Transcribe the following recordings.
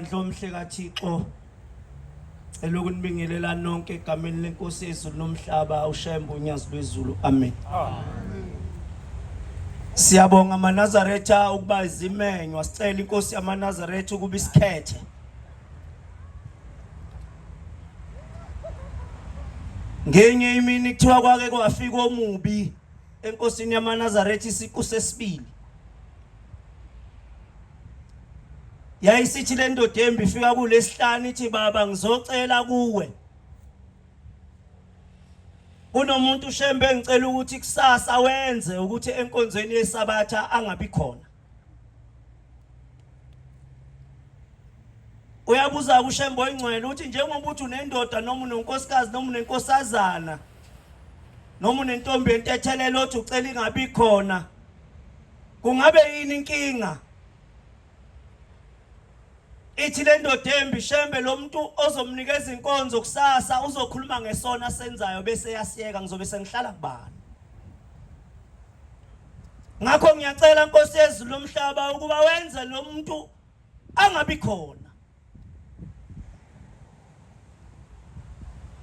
Bandla omhle kaThixo cela ukunibingelela nonke egameni lenkosi yezulu nomhlaba ushembe unyazi lwezulu amen Siyabonga amaNazaretha ukuba izimenywa sicela inkosi yamaNazaretha ukuba isikhethe ngenye imini kuthiwa kwake kwafika omubi enkosini yamanazaretha isiqu sesibili yayisithi le ndoda embi ifika kulesihlanu ithi baba ngizocela kuwe kunomuntu ushembe engicela ukuthi kusasa wenze ukuthi enkonzweni yesabatha angabi khona uyabuza kushembo ingcwele ukuthi njengoba uthi unendoda noma unonkosikazi noma unenkosazana noma unentombi yentethelelo othi ucela ingabi khona kungabe yini inkinga Ithi le ndoda embi shembe lo muntu ozomnikeza inkonzo kusasa uzokhuluma ngesona asenzayo bese yasiyeka ngizobe sengihlala kubani. Ngakho ngiyacela Nkosi yezulu lomhlaba ukuba wenze lo muntu angabi khona.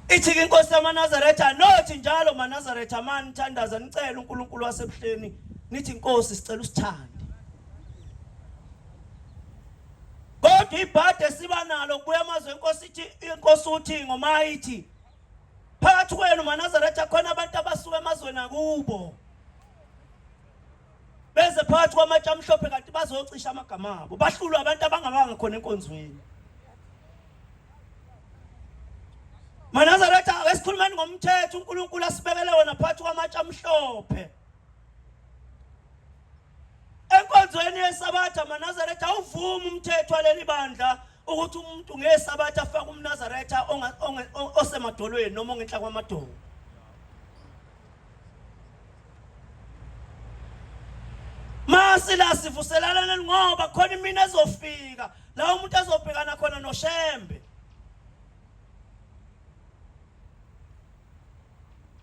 Ithi-ke inkosi yamaNazaretha nothi njalo maNazaretha mani thandaza nicele uNkulunkulu wasebuhleni nithi inkosi sicela usithande kodwa ibhadi esiba nalo kubuya amazwi enkosi ithi inkosi uthi ngomayithi phakathi kwenu manazaretha khona abantu abasuka emazweni akubo beze phakathi kwamatshe amhlophe kanti bazocisha amagama abo bahlulwe abantu abangabanga khona enkonzweni manazaretha ake sikhulumeni ngomthetho unkulunkulu asibekele wona phakathi kwamatshe amhlophe enkonzweni yesabatha manazaretha awuvumi umthetho waleli bandla ukuthi umuntu ngesabatha afake umnazaretha osemadolweni noma ongenhla kwamadolo masila sivuselalana ngoba khona imina ezofika la umuntu azobhekana khona noshembe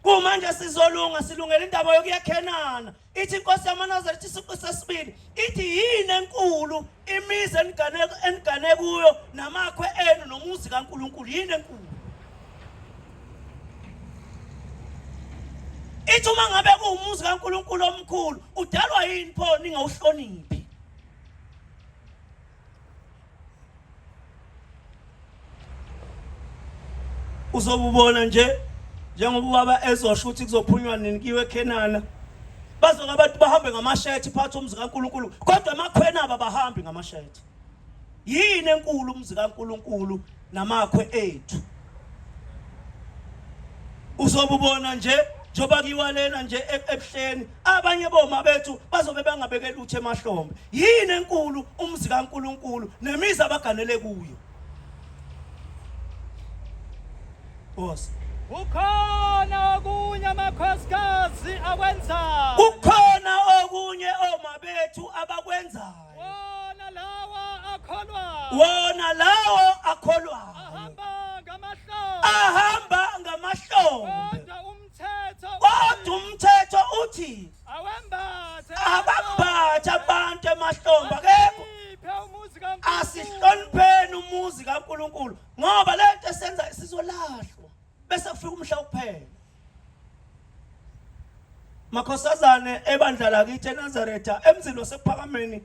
kumanje sizolunga silungela indaba yokuyakhenana ithi inkosi yamanazareth isiqu sesibili ithi yini enkulu imizi enigane kuyo namakhwe enu nomuzi kankulunkulu yini enkulu ithi uma ngabe kuwumuzi kankulunkulu omkhulu udalwa yini pho ningawuhloniphi uzobubona nje njengoba ubaba ezosho ukuthi kuzophunywa nini kiwe eKhenana bazoke abantu bahambe ngamashethi phathi umzi kaNkulunkulu kodwa amakhwena abahambi ngamashethi yini enkulu umzi kaNkulunkulu namakhwe ethu uzobubona nje njengoba kiwalena nje e-, ebuhleni abanye boma bethu bazobe bangabekela uthe emahlombe yini enkulu umzi kaNkuluNkulu nemizi abaganele kuyo Boss Ukhona okunye amakhosikazi akwenzayo Ukhona okunye omabethu abakwenzayo wona lawa akholwayo wona lawo akholwayo ahamba ngamahlombe ahamba ngamahlombe kodwa umthetho kodwa umthetho uthi awembathe abambathe abantu emahlombe akekho iphe umuzi kaNkulunkulu asihlonipheni umuzi kaNkulunkulu ngoba lento esenza sizolahlwa bese kufika umhla wokuphela makhosazane ebandla lakithi eNazaretha emzini wasephakameni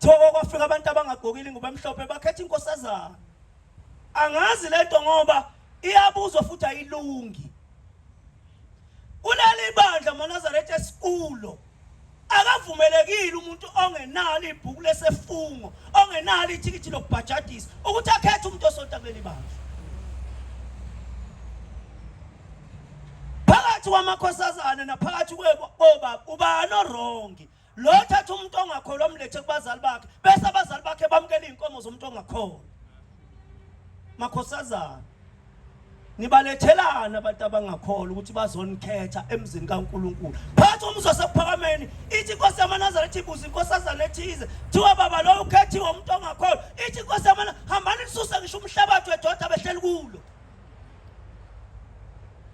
thoko kwafika abantu abangagokile ngoba emhlophe bakhetha inkosazana angazi lento ngoba iyabuzwa futhi ayilungi kuleli bandla maNazaretha esikulo Akavumelekile umuntu ongenalo ibhuku lesefungo, ongenalo ithikithi lokubhajadisa ukuthi akhethe umuntu osonta kuleli bandla. Phakathi kwamakhosazana naphakathi kwobaba ubani orongi? Lo thatha umuntu ongakholwa mlethe kubazali bakhe, bese abazali bakhe bamukela izinkomo zomuntu ongakholwa. Makhosazana nibalethelani abantu abangakholwa ukuthi bazonikhetha emzini kaNkulunkulu phathi umuzwa sekuphakameni ithi inkosi yamanazaretha ibuza inkosazana ethize kuthiwa baba loyo ukhethiwe umuntu ongakholwa ithi inkosi yamana hambani lisuse ngisho umhlabathi wedoda behleli kulo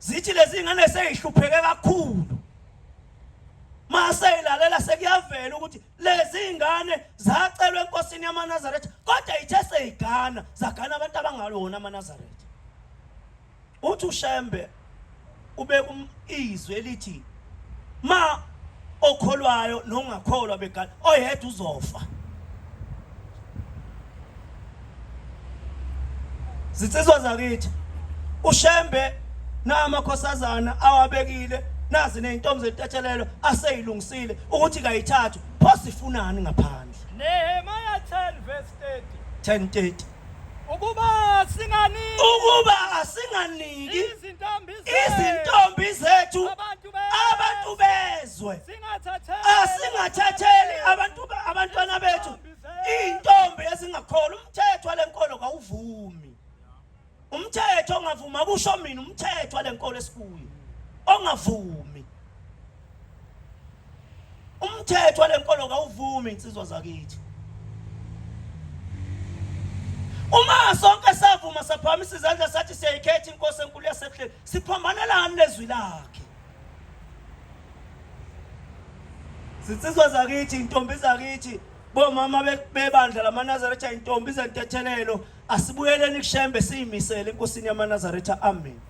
zithi lezi ngane seyihlupheke kakhulu maseyilalela sekuyavela ukuthi lezi ngane zacelwa enkosini yamanazaretha kodwa ithe seyigana zagana abantu abangalona amanazaretha uthi ushembe ube izwe elithi ma okholwayo nongakholwa begala oyedwa uzofa zinsizwa zakithi ushembe namakhosazana awabekile nazi nezintombi zetathelelo aseyilungisile ukuthi kayithathu pho sifunani ngaphandle Nehemiah 10 verse 30 10:30 ukuba singaniki ukuba singaniki izintombi izintombi zethu abantu be- abantu bezwe singathatheli asingathatheli abantu ba- abantwana bethu izintombi zethu. iy'ntombi ezingakholwa umthetho wale nkolo kawuvumi umthetho ongavuma kusho mina umthetho wale nkolo esikuyo ongavumi umthetho walenkolo kawuvumi insizwa zakithi uma sonke savuma saphamisa izandla sathi siyayikhetha inkosi enkulu yasebuhleni siphambanelani nezwi lakhe zinsizwa zakithi intombi zakithi bomama bebandla lamanazaretha intombi zentethelelo Asibuyeleni kuShembe siyimisele enkosini yamaNazaretha. Amen.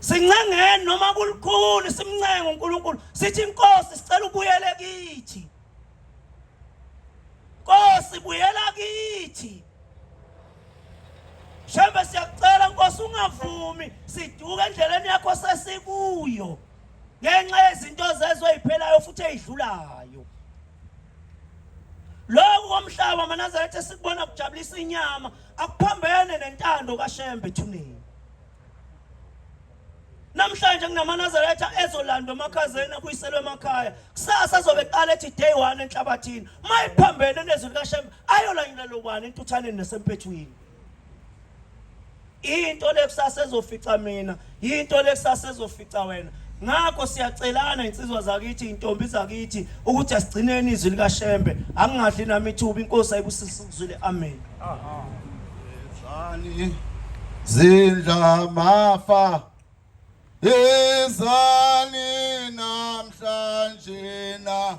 Sincengeni noma kulikhulu simncenge uNkulunkulu. Sithi inkosi sicela ubuyele kithi. Nkosi buyela kithi. Shembe siyakucela Nkosi ungavumi siduke endleleni yakho sesikuyo ngenxa yezinto zezwe iphelayo futhi ezidlulayo. Lokhu komhlaba amaNazaretha esikubona kujabulisa inyama akuphambene nentando kaShembe ethuneni. Namhlanje kunamaNazaretha ezolandwa emakhazeni akuyiselwe emakhaya. Kusasa azobe eqala ethi day 1 enhlabathini. Mayiphambene nezwi likaShembe ayolanyulelwa ubani entuthaneni nasempethwini. Into lekusasa ezofica mina, into lekusasa ezofica wena. Ngakho siyacelana insizwa zakithi, intombi zakithi ukuthi asigcineni izwi lika Shembe. Angingadli nami ithuba inkosi ayibusise ukuzwile. Amen. Aha. Zani zindla mafa ezani namhlanje na